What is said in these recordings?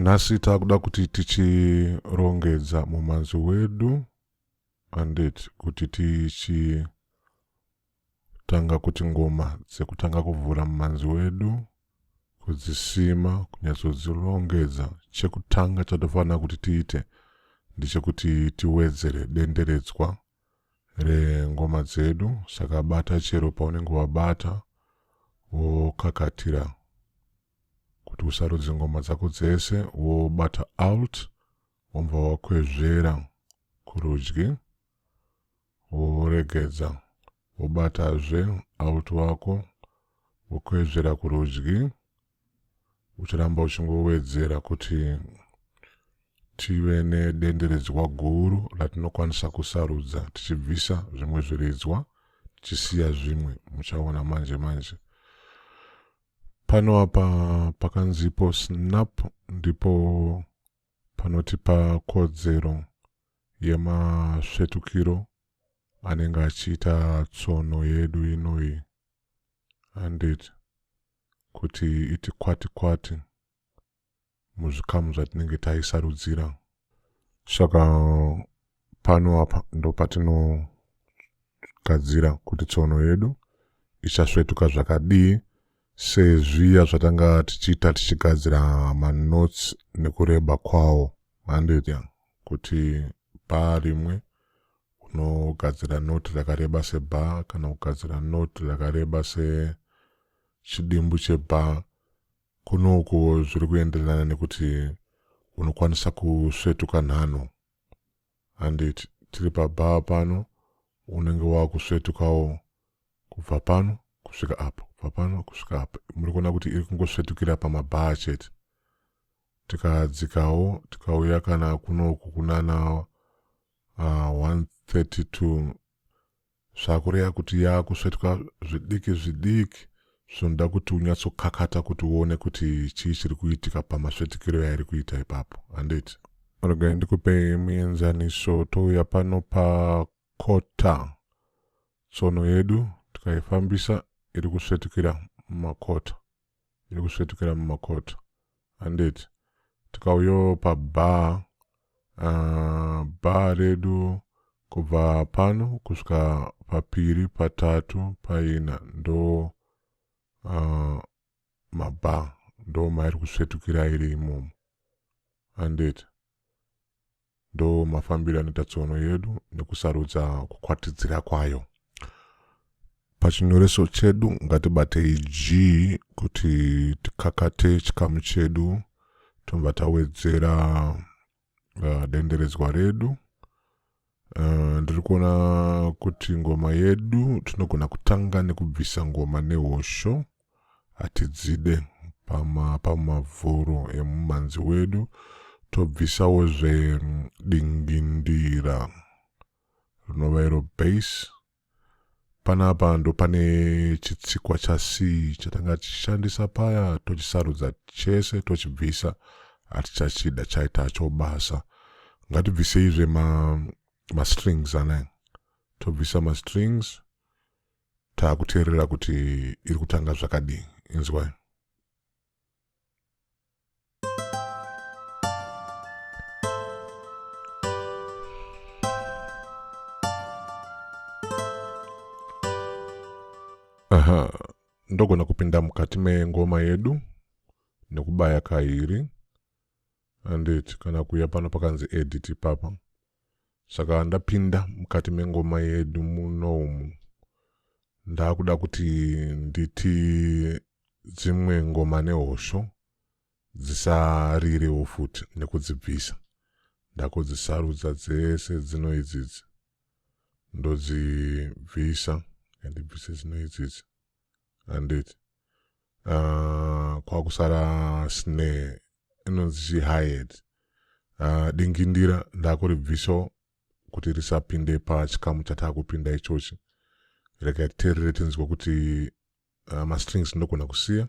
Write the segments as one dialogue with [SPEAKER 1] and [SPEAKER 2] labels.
[SPEAKER 1] nhasi takuda kuti tichirongedza mumanzi wedu andit kuti tichi Tanga kuti ngoma dzekutanga kuvhura mumanzi wedu kudzisima kunyatsodzilongedza chekutanga chatofanira kuti tiite ndechekuti tiwedzere denderedzwa rengoma dzedu saka bata chero paunenge wabata wokakatira kuti usarudze ngoma dzako dzese wobata alt womva wakwezvera kurudyi woregedza, wobatazve out wako, wokwezvera kurudyi, uchiramba uchingowedzera kuti tive nedenderedzwa guru ratinokwanisa kusarudza tichibvisa zvimwe zviridzwa tichisiya zvimwe muchaona manje manje pano apa pakanzipo snap ndipo panotipa kodzero yemasvetukiro anenge achiita tsono yedu inoyi handiti kuti iti kwati kwati muzvikamu zvatinenge taisarudzira saka pano apa ndo patinogadzira kuti tsono yedu ichasvetuka zvakadii sezviya zvatanga tichiita tichigadzira manotes nekureba kwawo manditya kuti bhaa rimwe unogadzira noti rakareba sebhaa kana kugadzira noti rakareba sechidimbu chebhaa kunoku zviri kuenderana nekuti unokwanisa kusvetuka nhano handiti tiri pabhaa pano unenge wakusvetukawo kubva pano kusvika apo kubva pano kusvika apo muri kuona kuti iri kungosvetukira pamabhaa chete tikadzikawo tikauya kana kunoku kunana uh, ah, 132 zvakureva kuti yakusvetwa zvidiki zvidiki zvinoda kuti unyatsokakata kuti uone kuti chii chiri kuitika pamasvetikiro yairi kuita ipapo handiti regai ndikupe muenzaniso touya pano pakota tsono yedu tikaifambisa iri kusvetukira mumakota iri kusvetukira mumakoto handiti tikauyawo pabhaa uh, bhaa redu kubva pano kusvika papiri patatu paina ndo uh, mabhaa ndo mairi kusvetukira iri imomo handiti ndo mafambiro anoita tsono yedu nekusarudza kukwatidzira kwayo pachinyoreso chedu ngatibatei g kuti tikakate chikamu chedu tobva tawedzera uh, denderedzwa redu uh, ndiri kuona kuti ngoma yedu tinogona kutanga nekubvisa ngoma nehosho hatidzide pama pamavhuro emumanzi wedu tobvisawo zvedingindira rinova iro base panapa ndo pane chitsikwa chac chatanga tichishandisa paya tochisarudza chese tochibvisa hatichachida chaita cho basa ngatibviseizve ma mastrings ane tobvisa mastrings taakuteerera kuti iri kutanga zvakadii inzwai aha ndogona kupinda mukati mengoma yedu nekubaya kairi anditi kana kuya pano pakanzi edit papa Saka ndapinda mukati mengoma yedu muno umu ndakuda kuti nditi dzimwe ngoma nehosho dzisarirewo futi nekudzibvisa ndakudzisarudza dzese dzino idzidzi ndodzibvisa ndibvise dzino idzidzi anditi uh, ah, kwakusara sne inonzi chi hired uh, ah, dingindira ndakuribvisawo kuti risapinde pachikamu chatakupinda ichochi rega titerere tinzwa kuti uh, ah, mastrings ndogona kusiya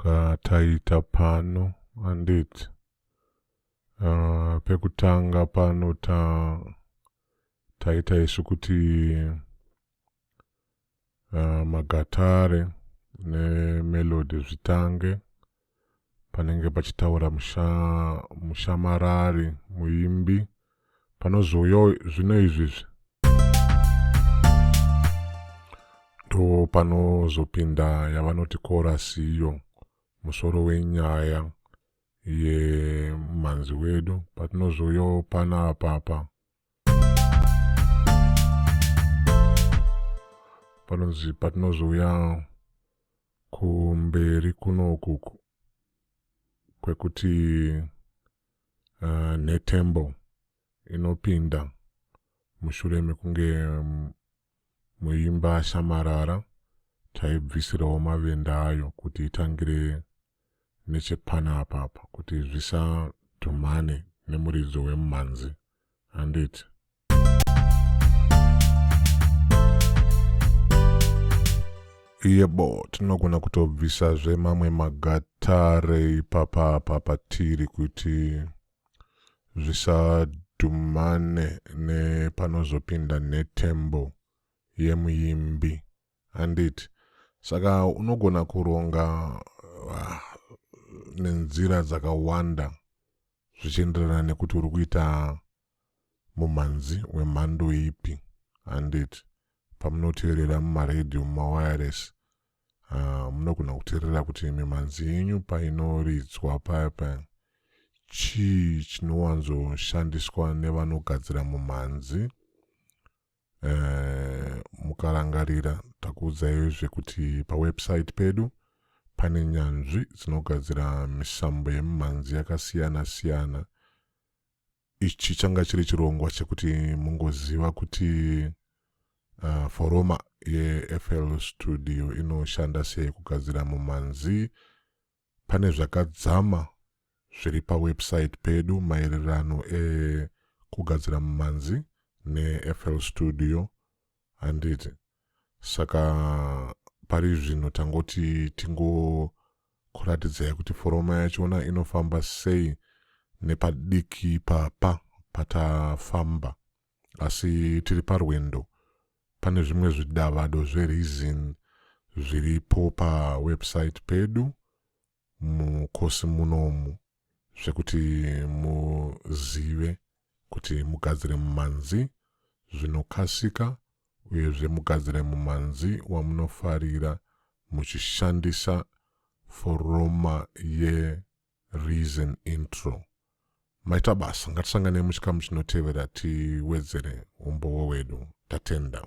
[SPEAKER 1] kataita pano andit uh, ah, pekutanga pano ta taita isu kuti uh, magatare nemelodi zvitange panenge pachitaura musha, mushamarari muimbi panozouyawo zvino izvizvi ndo panozopinda yavanoti korasi iyo musoro wenyaya yemhanzi wedu patinozouyawo pana apapa panonzi patinozouya kumberi kunokuku kwekuti uh, netembo inopinda mushure mekunge um, muimba ashamarara taibvisirawo mavenda ayo kuti itangire nechepana apapa kuti zvisadhumane nemuridzo wemumhanzi handiti yebo tinogona kutobvisazve mamwe magatare ipapa papatiri kuti zvisadhumane nepanozopinda nhetembo yemuimbi handiti saka unogona kuronga ah, nenzira dzakawanda zvichienderana nekuti uri kuita Mumhanzi wemhando ipi handiti pamunoteerera mumaredhiyo mumawireless uh, munogona kuteerera kuti mimhanzi yenyu painoridzwa paya paya chii chinowanzoshandiswa nevanogadzira mumhanzi uh, mukarangarira takuudzaiwo zvekuti pawebsite pedu pane nyanzvi dzinogadzira misambo yemimhanzi yakasiyana siyana ichi changa chiri chirongwa chekuti mungoziva kuti uh, foroma yefl studio inoshanda sei kugadzira mumhanzi pane zvakadzama zviri pawebsite pedu maererano ekugadzira mumhanzi nefl studio handiti saka pari zvino tangoti tingokuratidzai kuti foroma yachona inofamba sei nepadiki papa patafamba asi tiri parwendo pane zvimwe zvidavado zvereason zviripo pawebsite pedu mukosi munomu zvekuti muzive kuti mugadzire mumanzi zvinokasika uyezve mugadzire mumanzi wamunofarira muchishandisa foroma yeReason Intro. maita basa ngatisanganei muchikamu chinotevera tiwedzere umbowo wedu tatenda